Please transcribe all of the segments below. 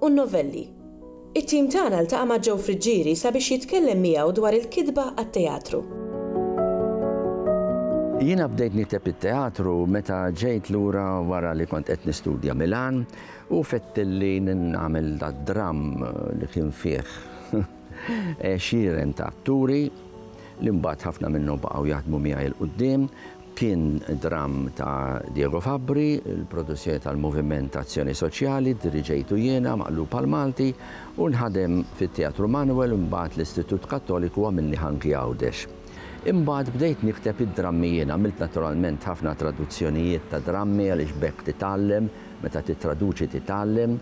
u n-novelli. It-tim tagħna ltaqa' ma' Joe Friggieri sabiex jitkellem miegħu dwar il-kitba għat-teatru. Jiena bdejt nikteb it-teatru meta ġejt lura wara li kont qed nistudja Milan u fettilli nagħmel dad-dramm li kien fih għexieren ta' atturi li mbagħad ħafna minnhom baqgħu jaħdmu miegħi 'l quddiem. Kien dramm ta' Diego Fabbri, il-produzzjoni tal-Moviment Azzjoni Soċjali, diriġejtu jiena, maqlub għall-Malti, u nħadem fit-Teatru Manuel u mbagħad l-Istitut Kattoliku għamilni ħanki Għawdex. Imbagħad bdejt nikteb id-drammi jien, għamilt naturalment ħafna traduzzjonijiet ta' drammi għaliex b'hekk titgħallem, meta tittraduċi titgħallem.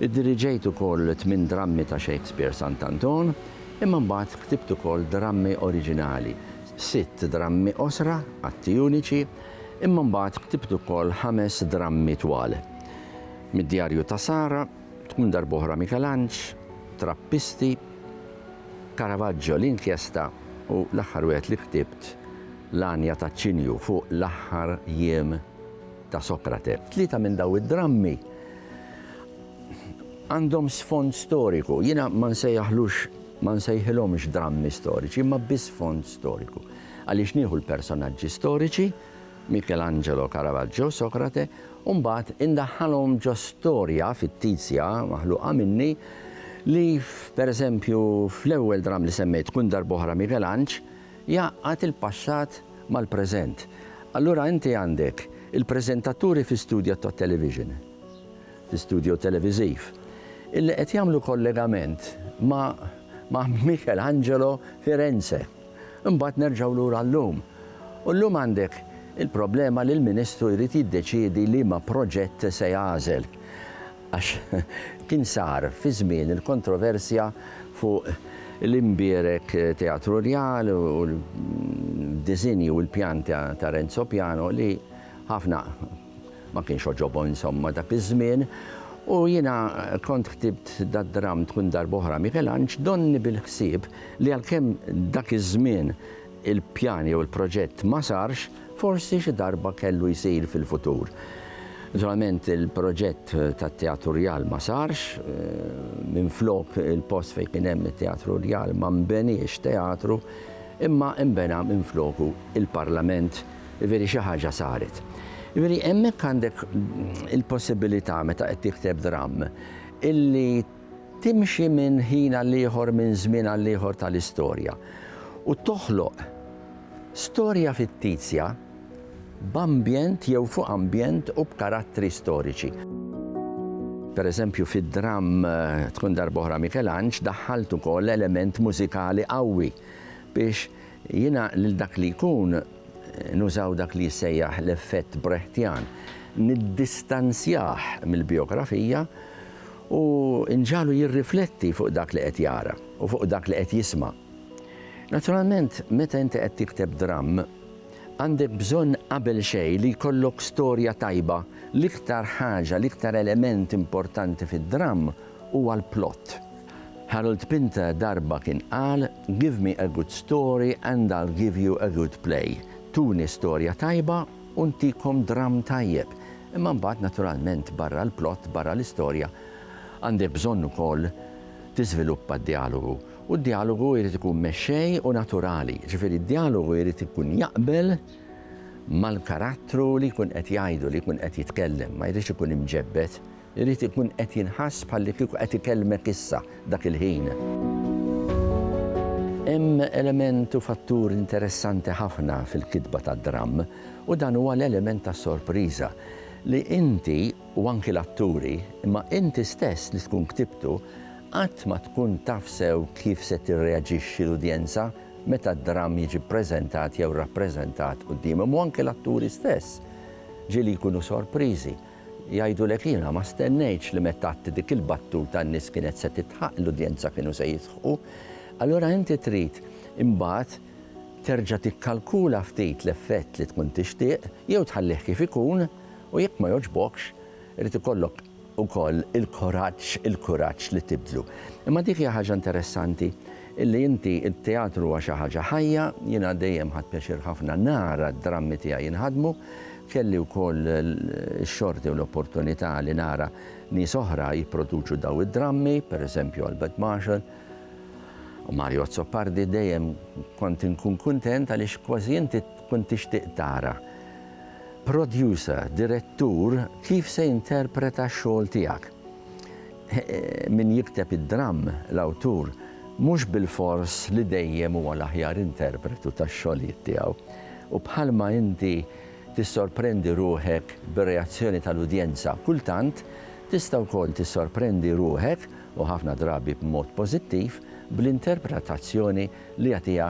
Iddiriġejt ukoll tmien drammi ta' Shakespeare Sant'Anton, imma mbagħad ktibt ukoll drammi oriġinali, sitt drammi qosra, atti uniċi, imma mbagħad ktibt ukoll ħames drammi twal. Mid-Djarju ta' Sara, Tkun Darb'oħra Mikelanġ, Trappisti, Caravaggio, L-Inkjesta u l-aħħar wieħed li ktibt, L-Għanja taċ-Ċinju fuq l-aħħar jiem ta' Sokrate. Tlieta minn dawn id-drammi għandhom sfond storiku. Jiena ma nsejjaħlux Ma nsejħilhomx drammi storiċi imma bi sfond storiku, għaliex nieħu l-personaġġi storiċi, Michelangelo, Caravaggio, Socrate, u mbagħad indaħħalhom ġo storja fittizja maħluqa minni li, pereżempju, fl-ewwel dramm li semmejt tkun darb'oħra Michelanġ jgħaqqad il-passat mal-preżent. Allura inti għandek il-preżentaturi fi studja tat-television. fi studjo televiżiv, illi qed jagħmlu kollegament ma' ma' Michelangelo Firenze. Imbagħad nerġgħu lura llum. U llum għandek il-problema li l-Ministru jrid jiddeċiedi liema proġett se jagħżel. Għax kien sar fi żmien il-kontroversja fuq l-imbierek Teatru Rjal u l-diżinji u l-pjan ta' Renzo Piano li ħafna Ma kienx għoġobhom insomma dak iż-żmien u jiena kont ħtibt dad-dramm tkun darb'oħra Mikelanġ donni bil-ħsieb li għalkemm dak iż-żmien il-pjan jew il-proġett ma sarx, forsi xi darba kellu jsir fil-futur. Naturalment il-proġett tat-Teatru Rjal ma sarx, minflok il-post fejn kien hemm it-Teatru Rjal ma nbeniex teatru imma nbena minfloku il-Parlament, Jiġifieri xi ħaġa saret. Jiġifieri hemmhekk għandek il-possibilità meta qed tikteb dramm illi timxi minn ħin għal ieħor minn żmien għal ieħor tal-istorja u toħloq storja fittizja b'ambjent jew fuq ambjent u b'karattri storiċi. Pereżempju fid-dramm Tkun Darb'oħra Mikelanġ daħħalt ukoll element mużikali qawwi biex Jiena lil dak li jkun, nużaw dak li jissejjaħ l-effett Brechtjan, niddistanzjah mill-bijografija u nġagħlu jirrifletti fuq dak li qed jara u fuq dak li qed jisma'. Naturalment, meta inti qed tikteb dramm, għandek bżonn qabel xejn li jkollok storja tajba, l-iktar ħaġa, l-iktar element importanti fid-dramm huwa l-plott. Harold Pinter darba kien qal, Give me a good story and I'll give you a good play, tuni storja tajba u ntikom dramm tajjeb, imma mbagħad naturalment barra l-plott, barra l-istorja, għandek bżonn ukoll tiżviluppa d-djalogu. U d-djalogu jrid ikun mexxej u naturali, jiġifieri d-djalogu jrid ikun jaqbel mal-karattru li jkun qed jgħidu, li jkun qed jitkellem, ma jridx ikun imġebbed. Irid ikun qed jinħass bħallikieku qed ikelmek issa, dak il-ħin. Hemm element u fattur interessanti ħafna fil-kitba tad-dramm, u dan huwa l-element tas-sorpriża, li inti, u anki l-atturi, imma inti stess li tkun ktibtu, qatt ma tkun taf sew kif se tirreaġixxi l-udjenza meta d-dramm jiġi ppreżentat jew rappreżentat quddiemhom, u anki l-atturi stess, ġieli jkunu sorpriżi. Jgħidulek jiena ma stennejtx li meta għadt dik il-battuta n-nies kienet se titħaqq, l-udjenza kienu se jidħqu. Allura inti trid imbagħad terġa' tikkalkula ftit l-effett li tkun tixtieq jew tħallih kif ikun u jekk ma jogħġbokx irid ikollok ukoll il-kuraġġ il-kuraġġ li tibdlu. Imma dik hija ħaġa interessanti. Illi inti t-teatru huwa xi ħaġa ħajja, jiena dejjem ħadt pjaċir ħafna nara d-drammi tiegħi jinħadmu. Kelli wkoll x-xorti u l-opportunità li nara nies oħra jipproduċu dawn id-drammi, per eżempju Albert Marshall u Mario Azzopardi, dejjem kont inkun kuntent għaliex kważi inti tkun tixtieq tara producer, direttur kif se jinterpreta x-xogħol tiegħek. Min jikteb id-dramm, l-awtur, mhux bilfors li dejjem huwa l-aħjar interpretu tax-xogħlijiet tiegħu. U bħalma inti tissorprendi ruħek bir-reazzjoni tal-udjenza, kultant tista' wkoll tissorprendi ruħek, u ħafna drabi b'mod pożittiv, bl-interpretazzjoni li jagħtiha